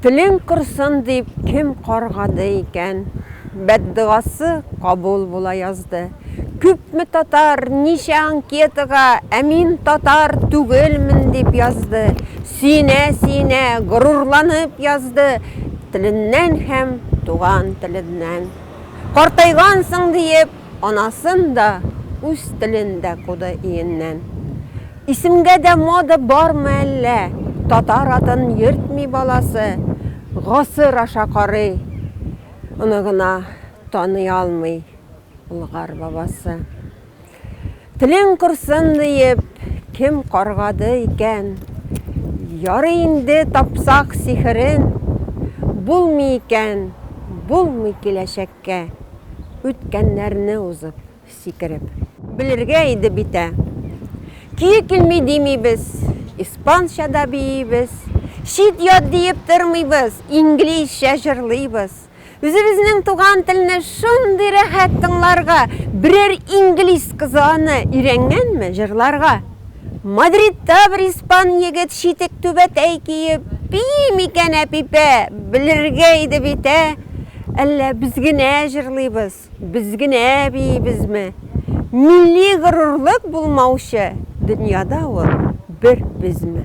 Телең корсын дип кем каргады икән? Бәддогасы кабул була язды. Күпме татар, ничә анкетага Ә мин татар түгелмен дип язды. Сөенә-сөенә, горурланып язды Теленнән һәм туган теленнән. Картайгансың диеп, Анасын да, үз телен дә куды иеннән. Исемгә дә мода бармы әллә, татар атын йөртми баласы, гасыр аша карый, оныгына таный алмый Болгар бабасы. Телең корсын диеп, кем каргады икән? Ярый инде тапсак сихерен, булмый икән, булмый киләчәктә. Кә, үткәннәрне узып, сикереп. Белергә иде бит ә. Көе килми димибез, испанча да биибез, чит-ят диеп тормыйбыз, инглизчә җырлыйбыз. Үзебезнең туган телне шундый рәхәт тыңларга, берәр инглиз кызы аны өйрәнгәнме, җырларга. Мадридта бер испан егет читек түбәтәй киеп бии микән, Әпипә? Белергә иде бит, ә? Әллә без генә җырлыйбыз, без генә биибезме? Милли горурлык булмаучы дөньяда ул бер безме?